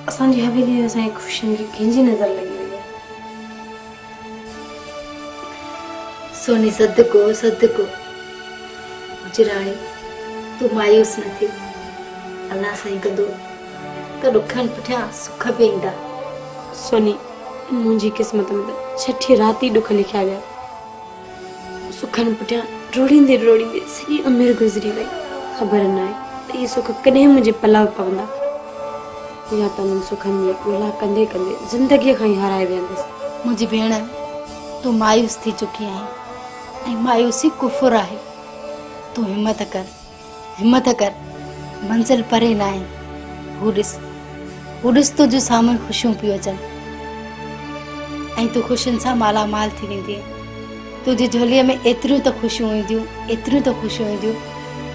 اسان جي حويلي ۾ اسان جي خوشين کي ڪنهن جي نظر لڳي وئي آهي. سوني صدقو صدقو مجراڻي تون مايوس نه ٿي الله سائين ڪندو ته ڏکن پٺيان سک به ايندا. سوني منهنجي قسمت ۾ ته ڇٺي رات ئي ڏک لکيا ويا. سکن پٺيان ڊوڙيندي ڊوڙيندي سڄي عمر گذري وئي خبر نه آهي ته اهي سک ڪڏهن منهنجي پلاء پوندا يا ته انهن سکن جي ڳولا ڪندي ڪندي زندگي کان ئي هارائي ويهندس. منهنجي ڀيڻ تون مايوس ٿي چڪي آهين ۽ مايوسي ڪفر آهي تون همت ڪر. همت ڪر منزل پري ناهي هو ڏس هو ڏس تنهنجو سامهون خوشيون پيو اچن ۽ تون خوشين سان مالا مال ٿي ويندي تنهنجي جھولي ۾ ايتريون ته خوشيون اينديون ايتريون ته خوشيون اينديون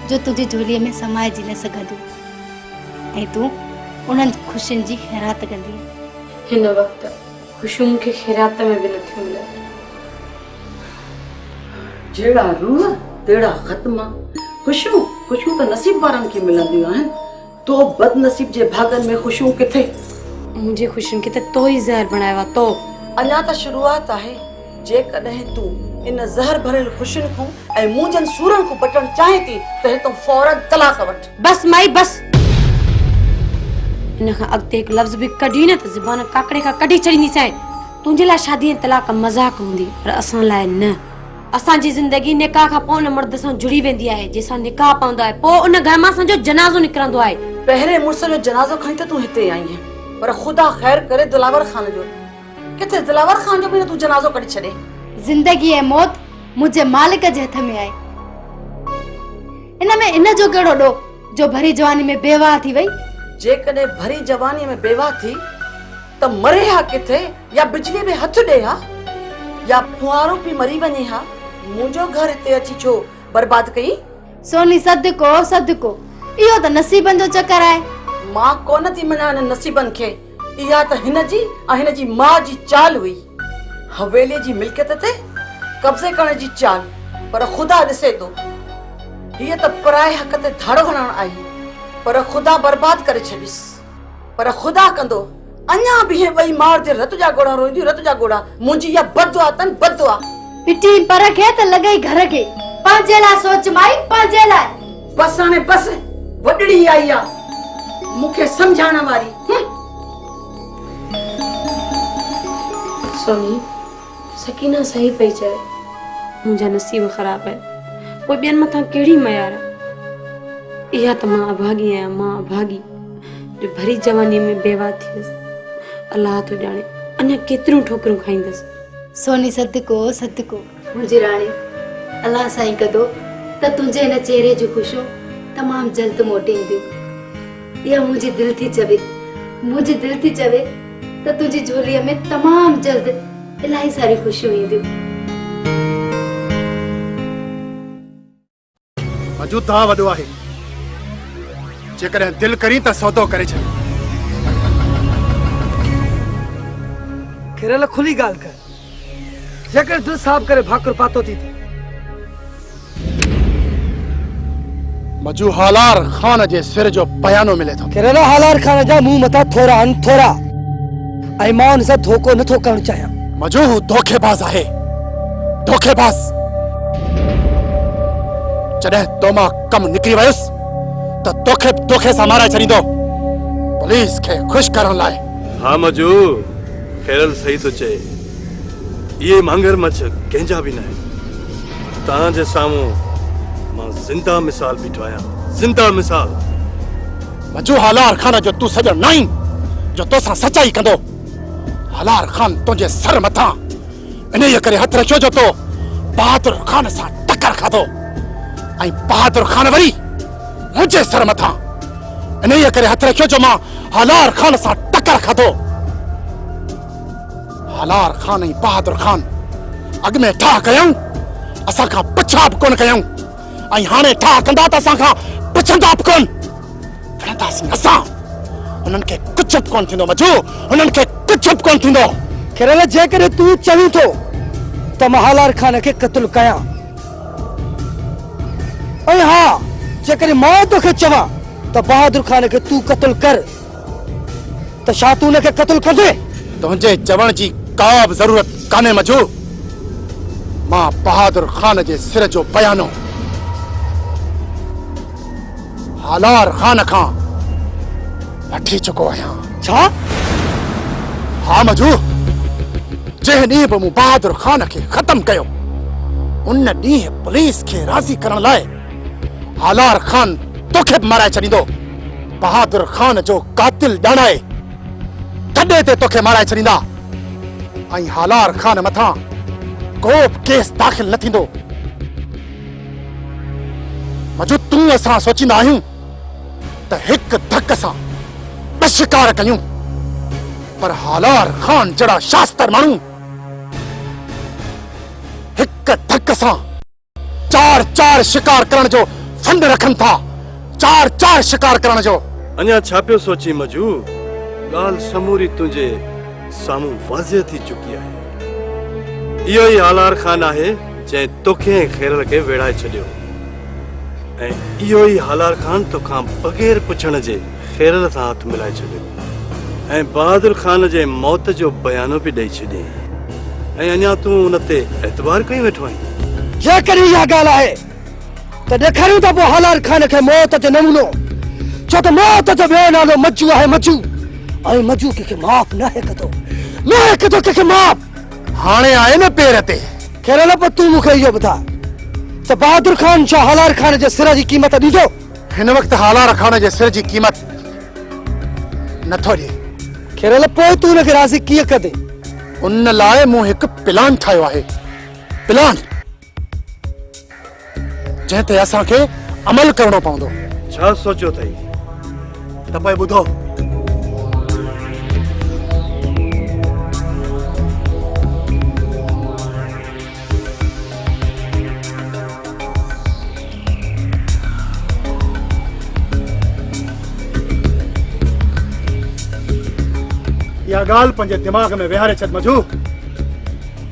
جو تنهنجي جھولي ۾ سمائجي نه سگهنديون ۽ تون انهن خوشين جي خيرات ڪندي هن وقت خوشيون مون کي خيرات ۾ به نٿيون ملن. جهڙا روح تهڙا ختما. خوشيون خوشيون ته نصيب وارن کي ملنديون آهن. تو بدنصيب جي ڀاڳن ۾ خوشيون ڪٿي؟ منهنجي خوشين کي ته تو ئي زهر بڻايو آهي. تو. اڃا ته شروعات آهي. جيڪڏهن تون ان زهر ڀريل خوشين کون ۽ منهنجن سورن کون بٽڻ چاهين ٿي ته هتان فورن طلاق وٺ. بس مائي بس ان کان اڳتي هڪ لفظ به ڪڍي نه ته زبان ڪاڪڙي کان ڪڍي ڇڏينديسائين تنهنجي لاء شادي ۽ طلاق مذاق هوندي پر اسان لاء نه اسان جي زندگي نڪاح کان پوء ان مرد سان جڙي ويندي آهي جنهن سان نڪاح پوندو آهي پوء ان گهر مان اسان جو جنازو نڪرندو آهي پهرين مڙس جو جنازو کڻي ته تون هتي آئين پر خدا خير ڪري دلاور خان جو ڪٿي دلاور خان جو به نه تون جنازو ڪڍي ڇڏي زندگي ۽ موت منهنجي مالڪ جي هٿ ۾ آهي ان ۾ ان جو ڪهڙو ڏوهه جو ڀري جواني ۾ بيواهه ٿي وئي. جيڪڏهن ڀري جواني ۾ بيواهه ٿي ته مري ها ڪٿي يا بجلي ۾ هٿ ڏي ها يا ڦوهارو پي مري وڃي ها منهنجو گهر هتي اچي ڇو برباد ڪئين. سوني صدقو صدقو اهو ته نصيبن جو چڪر آهي. مان ڪونه ٿي مڃان انهن نصيبن کي. اها ته هن جي ۽ هن جي ماء جي چال هئي. حويليء جي ملڪيت تي قبضي ڪرڻ جي چال، پر خدا ڏسي ٿو. هيء ته پرائي حق تي ڌاڙو هڻڻ آئي، پر خدا برباد ڪري ڇڏيس. پر خدا ڪندو، اڃا به اهي ٻئي مار ڌيئر رت جا ڳوڙها روئينديون، رت جا ڳوڙها. منهنجي اها بددعا اٿن، بددعا. پٽي پر کي ته لڳئي گهر کي. پنهنجي لاء سوچ مائي، پنهنجي لاء. بس هاڻي بس وڏڙي آئي آ مون کي سمجهائڻ واري سوني سڪينه صحيح پئي چئي منهنجا نصيب خراب آهن پوء ٻين مٿان ڪهڙي ميار اها ته مان اڀاڳي آهيان مان اڀاڳي جو ڀري جواني ۾ بيوا ٿي هيس الله ٿو ڄاڻي اڃا ڪيتريون ٺوڪريون کائيندس سوني صدقو صدقو منهنجي راڻي! الله سائين ڪندو ته تنهنجي هن چهري جون خوشيون تمام جلد موٽي اينديون. اها منهنجي دل ٿي چوي. منهنجي دل ٿي چوي ته تنهنجي جهوليء ۾ تمام جلد الاهي ساريون خوشيون اينديون. مجوده وڏو آهي جيڪڏهن دل ڪرين ته سودو ڪري ڇڏ کيرل کلي ڳالهه ڪر جيڪڏهن دل صاف ڪري ڀاڪر پاتو ٿي ته مجو هالار خان جي سر جو بيانو ملي ٿو کيرل هالار خان جا منهن مٿا ٿورا آهن ٿورا ۽ مان ان سان ڌوڪو نه ٿو ڪرڻ چاهيان. مجو هو ڌوڪيباز آهي. ڌوڪيباز! جڏهن تو مان ڪم نڪري ويس ته توکي به دوکي سان مارائي ڇڏيندو. پوليس کي خوش ڪرڻ لاء. ها مجو، خيرل صحيح ٿو چئي. اهي مهنگر مڇ ڪنهن جا به ناهن. توهان جي سامهون مان زنده مثال بيٺو آهيان. زنده مثال! وجوهه هالار خان جو تون سڄڻ ناهين جو توسان سچائي ڪندو. هالار خان تنهنجي سر مٿان انهيء ڪري هٿ رکيو جو تو بهادر خان سان ٽڪر کاڌو ۽ بهادر خان وري منهنجي سر مٿان انهيء ڪري هٿ رکيو جو مان هالار خان سان ٽڪر کاڌو. هالار خان ۽ بهادر خان اڳ ۾ ٺاهه ڪيائون، اسان کان پڇا به ڪونه ڪيائون. ۽ هاڻي ٺاهه ڪندا ته اسان کان پڇندا به ڪونه. وڙهنداسين اسان. هنن کي ڪجهه به ڪونه ٿيندو مجو، هنن کي ڪجهه به ڪونه ٿيندو. خيرل، جيڪڏهن تون چوين ٿو ته مان هالار خان کي قتل ڪيان ۽ ها جيڪڏهن مان توکي چوان ته بهادر خان کي تون قتل ڪر. ته ڇا تون ان کي قتل ڪندين؟ تنهنجي چوڻ جي ڪا به ضرورت ڪانهي مجو. مان بهادر خان جي سر جو بيانو هالار خان کان وٺي چڪو آهيان. ڇا؟ ها مجو، جنهن ڏينهن به مون بهادر خان کي ختم ڪيو، ان ڏينهن پوليس کي راضي ڪرڻ لاء هالار خان توکي به مارائي ڇڏيندو. بهادر خان جو قاتل ڄاڻائي ٿڏي تي توکي مارائي ڇڏيندا ۽ هالار خان مٿان ڪو به ڪيس داخل نه ٿيندو. مجو تون اسان سوچيندا آهيون ته هڪ ڌڪ سان ٻه شڪار ڪيون پر هالار خان جهڙا شاستر ماڻهو هڪ ڌڪ سان چار چار شڪار ڪرڻ جو فنڊ رکن ٿا چار چار شڪار ڪرڻ جو. اڃا ڇا پيو سوچين مجو ڳالهه سموري تنهنجي سامهون واضح ٿي چڪي آهي اهو ئي هالار خان آهي جنهن توکي ۽ خيرل کي ويڙهائي ڇڏيو ۽ اهو ئي هالار خان توکان بغير پڇڻ جي خيرل سان هٿ ملائي ڇڏيو ۽ بهادر خان جي موت جو بيانو به ڏئي ڇڏيائين ۽ اڃا تون ان تي اعتبار ڪيون ويٺو آهين؟ جيڪڏهن اها ڳالهه آهي ته ڏيکاريون ته پوء هالار خان کي موت جو نمونو ڇو ته موت جو ٻيو نالو مجو آهي مجو ۽ مجو ڪنهن کي معاف ناهي ڪندو ناهي ڪندو ڪنهن کي معاف. هاڻي آهي نه پير تي. خيرل پوء تون مون کي اهو ٻڌاء ته بهادر خان ڇا هالار خان جي سر جي قيمت ڏيندو؟ هن وقت هالا رکاڻ جي سر جي قيمت نه ٿو ڏي. کيرل پوء تون هن کي راضي ڪيئن ڪندين؟ ان لاء مون هڪ پلان ٺاهيو آهي. پلان جنهن تي اسان کي عمل ڪرڻو پوندو. ڇا سوچيو اٿئي؟ ته پوء ٻڌو. اها ڳالهه پنهنجي دماغ ۾ ويهاري ڇڏ مجهو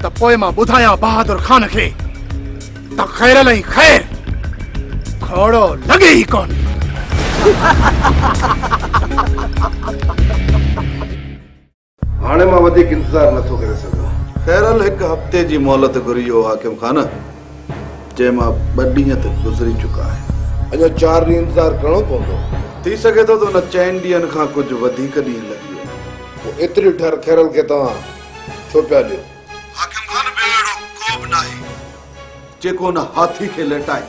ته پوء مان ٻڌايان بهادر خان کي ته خيرل ۽ خير کهڙو لڳي ئي ڪون هاڻي مان وڌيڪ انتظار نه ٿو ڪري سگهان. خيرل هڪ هفتي جي مهلت گهري هو حاڪم خان، جنهن مان ٻه ڏينهن ته گذري چڪا آهن. اڃا چار ڏينهن انتظار ڪرڻو پوندو. ٿي سگهي ٿو ته ان چئن ڏينهن کان ڪجهه وڌيڪ ڏينهن لڳي وڃن. پوء ايتري ڍر خيرل کي توهان ڇو پيا ڏيو؟ حاڪم خان ٻيو اهڙو ڪوبه ناهي. جيڪو ان هاٿي کي ليٽائي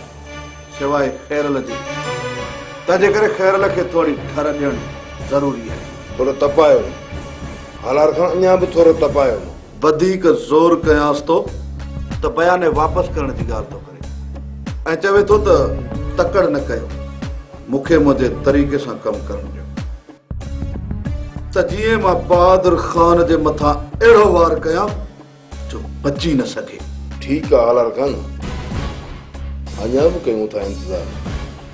سواء خيرل جي، تنهن جي ڪري خيرل کي ٿوري ٺر ڏيڻ ضروري آهي. ٿورو تپايو نه. هالار کان اڃا به ٿورو تپايو نه. وڌيڪ زور ڪيانس ٿو ته بياني واپس ڪرڻ جي ڳالهه ٿو ڪري ۽ چوي ٿو ته تڪڙ نه ڪيو، مون کي منهنجي طريقي سان ڪم ڪرڻ ڏيو ته جيئن مان بهادر خان جي مٿان اهڙو وار ڪيان جو بچي نه سگهي. ٺيڪ آ آلار خان اڃا به ڪيون ٿا انتظار.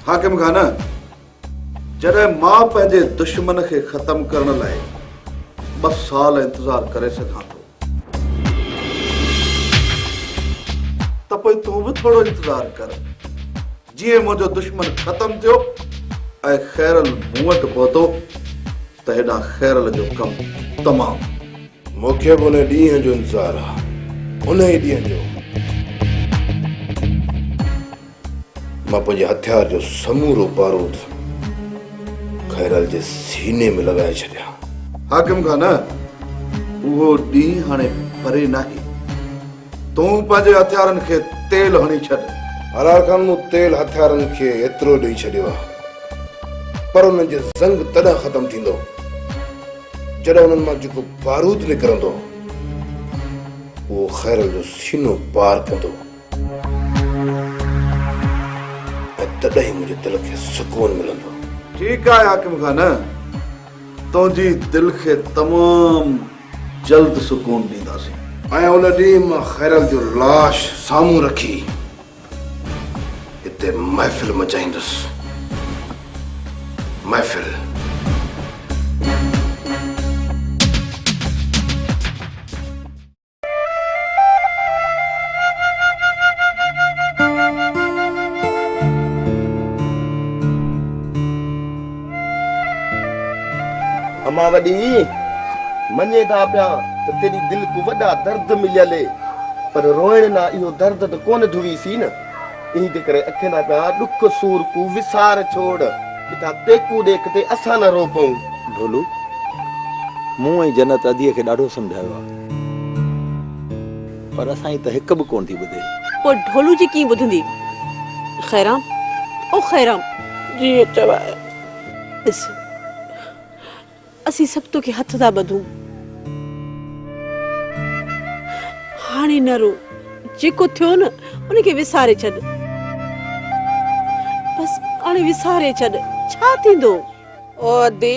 حاڪم خان جڏهن مان پنهنجي دشمن کي ختم ڪرڻ لاء ٻه سال انتظار ڪري سگهان ٿو ته پوء تون به ٿورو انتظار ڪر جيئن منهنجو دشمن ختم ٿيو ۽ خيرل مون وٽ پهتو ته هيڏانهن خيرل جو ڪم تمام. مون کي به ان ڏينهن جو انتظار آ انهي ڏينهن جو مان پنهنجي هٿيار جو سمورو بارود خيرل جي سيني ۾ لڳائي ڇڏيان. حاڪم خان اهو ڏينهن هاڻي پري ناهي. تون پنهنجي هٿيارن کي تيل هڻي ڇڏ. حلال خان مون تيل هٿيارن کي ايترو ڏئي ڇڏيو آهي پر انهن جو زنگ تڏهن ختم ٿيندو جڏهن انهن مان جيڪو بارود نڪرندو اهو خيرل جو سينو پار ڪندو ۽ تڏهن ئي منهنجي دل کي سڪون ملندو. ٺيڪ آهي حاڪم خان تنهنجي دل کي تمام جلد سڪون ڏينداسين. ۽ ان ڏينهن مان خيرل جو لاش سامهون رکي هتي محفل مچائيندس. محفل. امان وڏي مڃين ٿا پيا ته تيري دل ڪو وڏا درد مليل اي پر روئڻ نا اهو درد ته ڪونه ڌوئي سي نه انهي جي ڪري اکين ٿا پيا ڏک سور ڪو وسار ڇوڙ ڪٿا تيڪو ڏي ڪٿي اسان نه رو پئون. ڍولو مون ۽ جنت اديء کي ڏاڍو سمجهايو آ. پر اسان جي ته هڪ به ڪونه ٿي ٻڌي. پوء ڍولو جي ڪيئن ٻڌندي. خيرام او خيرام! جيئن چواء. ڏس اسين سڀ توکي هٿ ٿا ٻڌون. هاڻي نه رو. جيڪو ٿيو نه ان کي وساري ڇڏ. بس هاڻي وساري ڇڏ. ڇا ٿيندو. او ادي!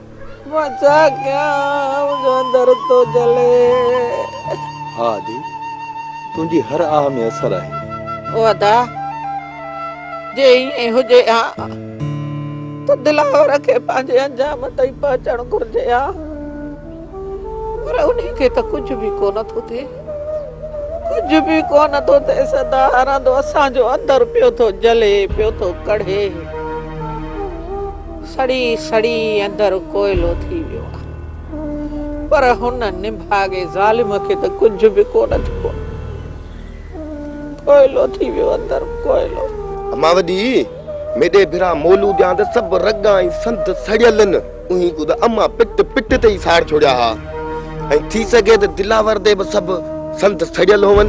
مان ڇا ڪيان منهنجو اندر ٿو جلي. ها ادي تنهنجي هر آه ۾ اثر آهي. او ادا جي ائين هجي ها ته دلاور کي پنهنجي انجام تائين پهچڻ گهرجي ها پر انهي کي ته ڪجهه به ڪو نه ٿو ٿئي ڪجهه به ڪو نه ٿو ٿئيس ادا رندو اسان جو اندر پيو ٿو جلي پيو ٿو ڪڙهي. سڙي سڙي اندر ڪوئلو ٿي ويو آ پر هن نڀاڳي ظالم کي ته ڪجهه به ڪونه ٿيو آ ڪوئلو ٿي ويو اندر ڪوئلو. امان وڏي ميڏي ڀرا مولون ڏيان ته سڀ رڳ ۽ سنڌ سڙيل نه اوهين ڪو ته امان پٽ پٽ تي ئي ساڙ ڇوڙيا ها ۽ ٿي سگهي ته دلاور تي به سڀ سنڌ سڙيل هون.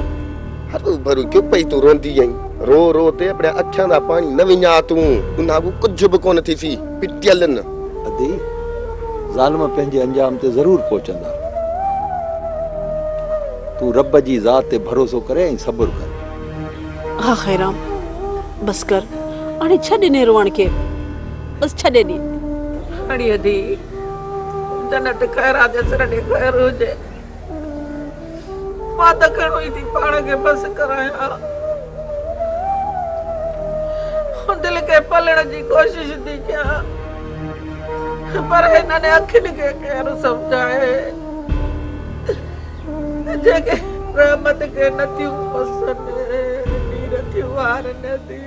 هر روبرو ڪيو پئي تون روئندي آهين رو رو تي اپڙيا اکين مان پاڻي نه وڃاء تون ان اڳو ڪجهه به ڪونه ٿيسي پٽيل نه. ادي ظالم پنهنجي انجام تي ضرور پهچندا تون رب جي ذات تي ڀروسو ڪري ۽ صبر ڪر. ها خيرام بس ڪر اڙي ڇڏ انهي روئڻ کي بس ڇڏي ڏي. اڙي ادي جنت خيرا جي سر ڏي خير هجي. مان ته گهڻو ئي ٿي پاڻ کي بس ڪرايان ها. دل کي پلڻ جي ڪوشش ٿي ڪيان پر هنن اکين کي ڪير سمجهائي جيڪي رحمت کي نٿيون پسن نير ٿيون هارن ٿي.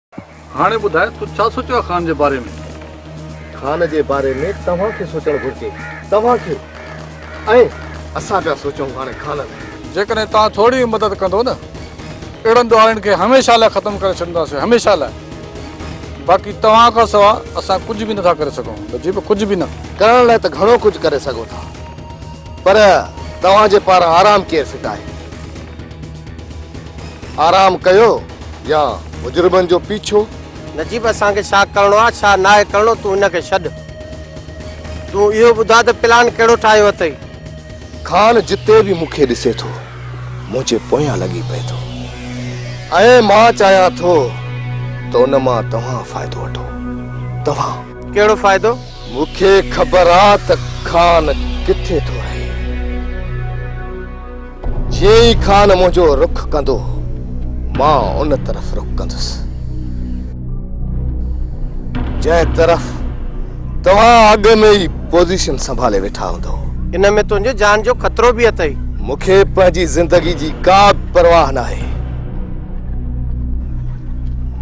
هاڻي ٻڌاء تو ڇا سوچيو آهي خان جي باري ۾؟ خان جي باري ۾ توهان کي سوچڻ گهرجي. توهان کي ۽ اسان پيا سوچون هاڻي خان لاء. جيڪڏهن توهان ٿوري به مدد ڪندو نه اهڙن ڏوهارين کي هميشه لاء ختم ڪري ڇڏينداسين هميشه لاء. باقي توهان کان سوا اسان ڪجهه به نٿا ڪري سگهون نجيب ڪجهه به نه. ڪرڻ لاء ته گهڻو ڪجهه ڪري سگهو ٿا پر توهان جي پاران آرام ڪير ڦٽائي. آرام ڪيو. يا مجرمن جو پيڇو. نجيب اسان کي ڇا ڪرڻو آ ڇا ناهي ڪرڻو تون هن کي ڇڏ تون اهو ٻڌاء ته پلان ڪهڙو ٺاهيو اٿئي. خان جتي به مون کي ڏسي ٿو منهنجي پويان لڳي پئي ٿو ۽ مان چاهيان ٿو ته ان مان توهان فائدو وٺو توهان. ڪهڙو فائدو؟ مون کي خبر آ ته خان ڪٿي ٿو رهي. جيئن ئي خان منهنجو رخ ڪندو مان ان طرف رخ ڪندس. جنهن طرف توهان اڳ ۾ ئي پوزيشن سنڀالي ويٺا هوندؤ. ان ۾ تنهنجي جان جو خطرو به اٿئي. مون کي پنهنجي زندگي جي ڪا به پرواهه ناهي.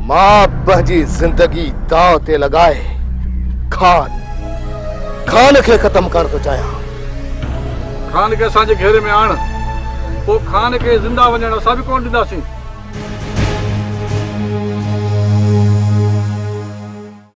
مان پنهنجي زندگي داء تي لڳائي خان خان کي ختم ڪرڻ ٿو چاهيان خان کي اسان جي گهيري ۾ آڻ پوء خان کي زنده وڃڻ اسان به ڪون ڏينداسين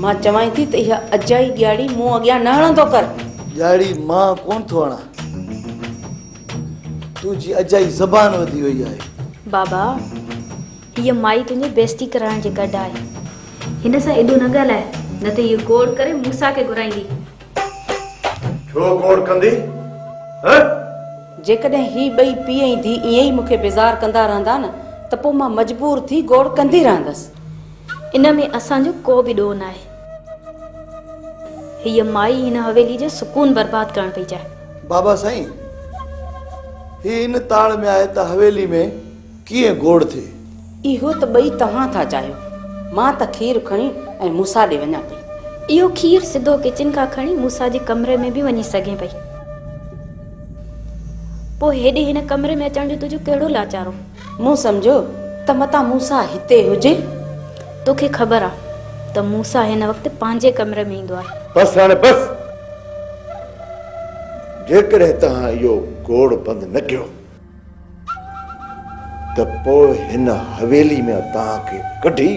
مان چوانء ٿي ته اها اجائي ڄاڙي مون اڳيان نه هڻندو ڪر. ڄاڙي مان ڪونه ٿو هڻان. تنهنجي اجائي زبان وڌي وئي آهي. بابا هيء مائي تنهنجي بيزتي ڪرائڻ جي گڏ آهي. هن سان ايڏو نه ڳالهاء نه ته هيء گوڙ ڪري موسيٰ کي گهرائيندي. ڇو گوڙ ڪندي هه؟ جيڪڏهن هي ٻئي پيء ۽ ڌيء ائين ئي مون کي بيزار ڪندا رهندا نه ته پوء مان مجبور ٿي گوڙ ڪندي رهندس. ان ۾ اسان جو ڪو به ڏوهه ناهي. هيء مائي هن حويلي جو سڪون برباد ڪرڻ پئي چاهي. بابا سائين، هي ان تاڙ ۾ آهي ته حويلي ۾ ڪيئن گوڙ ٿئي. اهو ته ٻئي توهان ٿا چاهيو. مان ته کير کڻي ۽ موسيٰ ڏي وڃان پئي. اهو کير سڌو ڪچن کان کڻي موسيٰ جي ڪمري ۾ به وڃي سگهين پئي. پوء هيڏي هن ڪمري ۾ اچڻ جو تنهنجو ڪهڙو لاچارو؟ مون سمجهيو ته متان موسيٰ هتي هجي. توکي خبر آ ته موسيٰ هن وقت پنهنجي ڪمري ۾ ايندو آهي. بس هاڻي بس! جيڪڏهن توهان اهو گوڙ بند نه ڪيو ته پوء هن حويلي مان توهان کي ڪڍي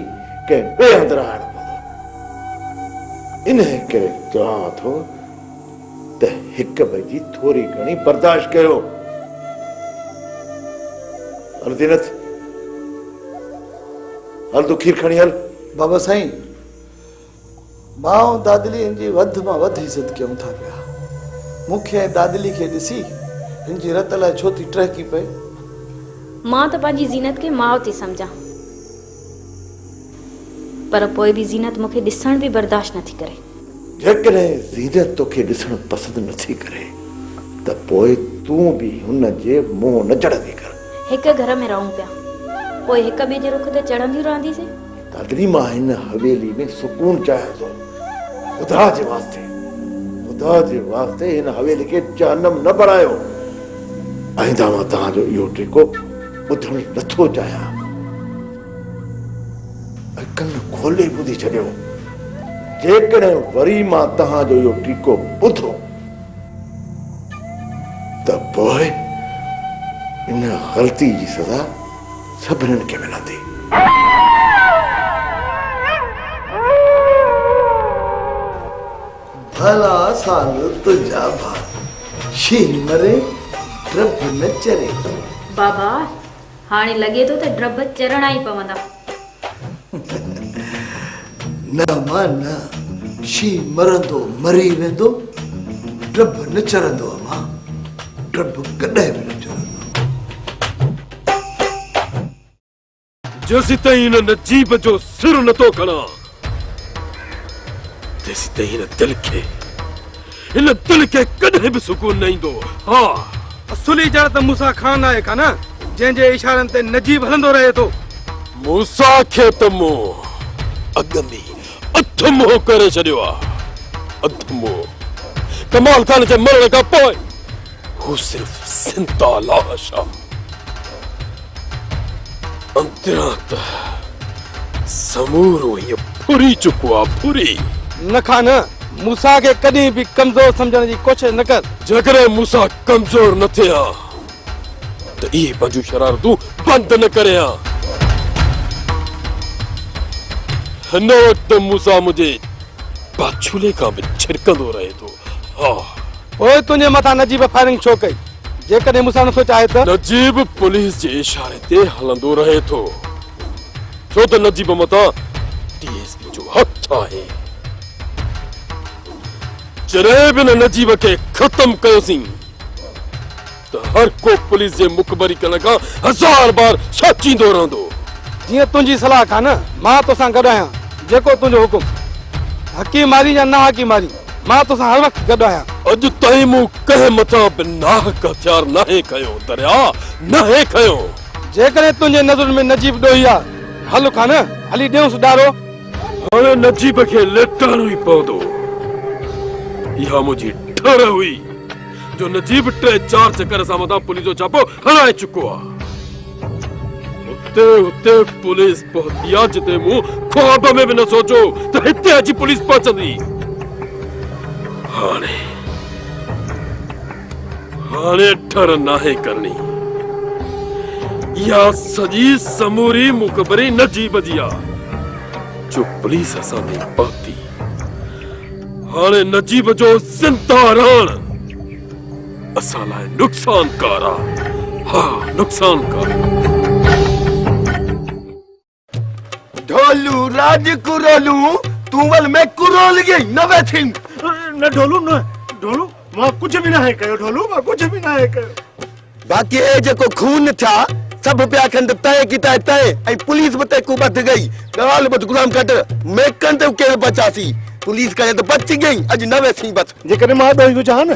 ڪنهن ٻئي هنڌ رهائڻو پوندو. انهيء ڪري چوان ٿو ته هڪ ٻئي جي ٿوري گهڻي برداشت ڪيو. هل زينت، هل تون کير کڻي هل. بابا سائين، مان ۽ دادلي هن جي وڌ مان وڌ عزت ڪيون ٿا پيا. مون کي ۽ دادلي کي ڏسي هن جي رت الائي ڇو ٿي ٽهڪي پئي. مان ته پنهنجي زينت کي ماء ٿي سمجهان. پر پوء به زينت مون کي ڏسڻ به برداشت نه ٿي ڪري. جيڪڏهن زينت تو کي ڏسڻ پسند نه ٿي ڪري ته پوء تون به هن جي منهن نه چڙهندي ڪر. هڪ گهر ۾ رهون پيا، پوء هڪ ٻئي جي رخ تي چڙهنديون رهنديسين. دادڙي مان هن حويلي ۾ سڪون چاهيان ٿو. خدا جي واسطي، خدا جي واسطي هن حويلي کي جهنم نه بڻايو. آئنده مان توهان جو اهو ٽيڪو. ٻڌڻ ئي نٿو چاهيان ۽ ڪن کولي ٻڌي ڇڏيو جيڪڏهن وري مان توهان جو اهو ٽيڪو ٻڌو ته پوء ان غلطي جي سزا سڀنن کي ملندي. ڀلا سال تنهنجا ڀاء، شينهن مري، ڊڀ نه چري. بابا، هاڻي لڳي ٿو ته ڊڀ چرڻا ئي پوندا. نه اما نه، شينهن مرندو مري ويندو، ڊڀ نه چرندو اما، ڊڀ ڪڏهن به نه چرندو. جيسيتائين هن نجيب جو سر نه ٿو کڻان، تيسيتائين هن دل کي، هن دل کي ڪڏهن به سڪون نه ايندو. ها! اصلي جڙ ته موسيٰ خان آهي ڪا نه، جنهن جي اشارن تي نجيب هلندو رهي ٿو. موسيٰ کي ته مون اڳ ۾ ئي اڌ منهن ڪري ڇڏيو آهي. اڌ منهن! ڪمال خان جي مرڻ کان پوء هو صرف زنده لاش آهي. اندران ته سمورو هيء ڦري چڪو آ، ڦري! نه کا نه، موسيٰ کي ڪڏهن به ڪمزور سمجهڻ جي ڪوشش نه ڪر. جيڪڏهن موسيٰ ڪمزور نه ٿئي ها ته اهي پنهنجون شرارتون بند نه ڪري ها. هن وقت موسيٰ منهنجي پاڇولي کان به ڇرڪندو رهي ٿو. ها! پوء تنهنجي مٿان نجيب فائرنگ ڇو ڪئي؟ جيڪڏهن مون سان نه ٿو چاهي ته. نجيب پوليس جي اشاري تي هلندو رهي ٿو، ڇو ته نجيب متان ڊي ايس پي جو هٿ آهي. جڏهن به ان نجيب کي ختم ڪيوسين ته هر ڪو پوليس جي مخبري ڪرڻ کان هزار بار سوچيندو رهندو. جيئن تنهنجي صلاح کان نه، مان توسان گڏ آهيان، جيڪو تنهنجو حڪم. حقي مارين يا نه حقي مارين. مان تو سان هر وقت گڏ آهيان. اڄ تائين مون ڪنهن مٿان به ناحق هٿيار ناهي کنيو دريا، ناهي کنيو. جيڪڏهن تنهنجي نظرن ۾ نجيب ڏوهي آ ته هل کان نه، هلي ڏيونس ڏارو. هاڻي نجيب کي ليٽاڻو ئي پوندو. اها منهنجي ٺر هئي، جو نجيب ٽي چار چڪر اسان مٿان پوليس جو ڇاپو هڻائي چڪو آ. اتي اتي پوليس پهتي آ جتي مون خواب ۾ به نه سوچو ته هتي اچي پوليس پهچندي هاڻي هاڻي ٺر ناهي ڪرڻي يا سڄي سموري مقبري نه جي بجي آ جو پوليس اسان تي پهتي هاڻي نجيب جو زنده رهڻ اسان لاء نقصانڪار آ ها نقصانڪار آ. ڍولو راڄ ڪرولون تون ول ۾ ڪرول گي نه ويٺين. نه ڍولو نه ڍولو مان ڪجهه به ناهي ڪيو ڍولو مان ڪجهه به ناهي ڪيو. باقي اي جيڪو خون ٿيا سڀ پيا کنڊ تئين ڪي تئين تئين ۽ پوليس به تيڪو ٻڌ گئي ڳالهه ٻڌ غلام گهٽ ميڪن تي ڪير بچاسي پوليس ڪري ته بچ گئي اڄ نه ويسين بس. جيڪڏهن مان ڏوهي هجان ها نه.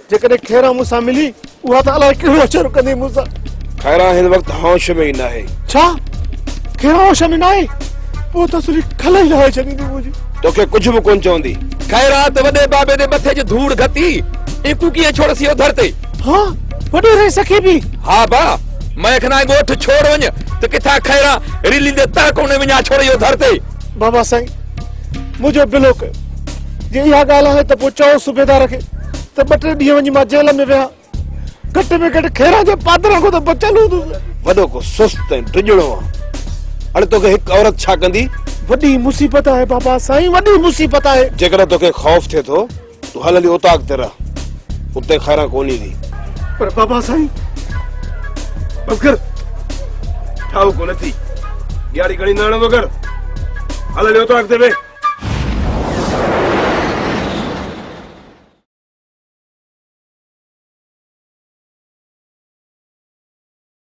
جيڪڏهن خيران مون سان ملي، اها ته الائي ڪهڙو اچر ڪندي مون سان. خيران هن وقت هوش ۾ ئي ناهي. ڇا؟ خيران هوش ۾ ناهي؟ پوء ته سري کل ئي لاهي ڇڏيندي منهنجي. توکي ڪجهه به ڪونه چوندي. خيران ته وڏي بابي جي مٿي جي ڌوڙ گهتي، ايڪو ڪيئن ڇوڙيس اهو ڌر تي. ها، وڏيري سکي به. ها با، مئي کن آء ڳوٺ ڇوڙ وڃ ته ڪٿان خيران رليندي تهه ڪونهي وڃان ڇوڙي اهو ڌر تي. بابا سائين! منهنجو بلو ڪيو. جي اها ڳالهه آهي ته پوء چئو صوبيدار کي ته ٻه ٽي ڏينهن وڃي مان جيل ۾ ويهان. گهٽ ۾ گهٽ کيران جي پادران کان ته بچيل هوندس. وڏو ڪو سست ۽ ڊڄڻو آهي. اڙي توکي هڪ عورت ڇا ڪندي؟ وڏي مصيبت آهي بابا سائين وڏي مصيبت آهي. جيڪڏهن توکي خوف ٿئي ٿو. تون هل هلي اوطاق تي رهه، اتي خيران ڪونه ايندي. پر بابا سائين، بگر ٺاهو ڪونه ٿي. ڏياري گهڻي نه آڻ بگر، هل هلي اوطاق تي ويهه.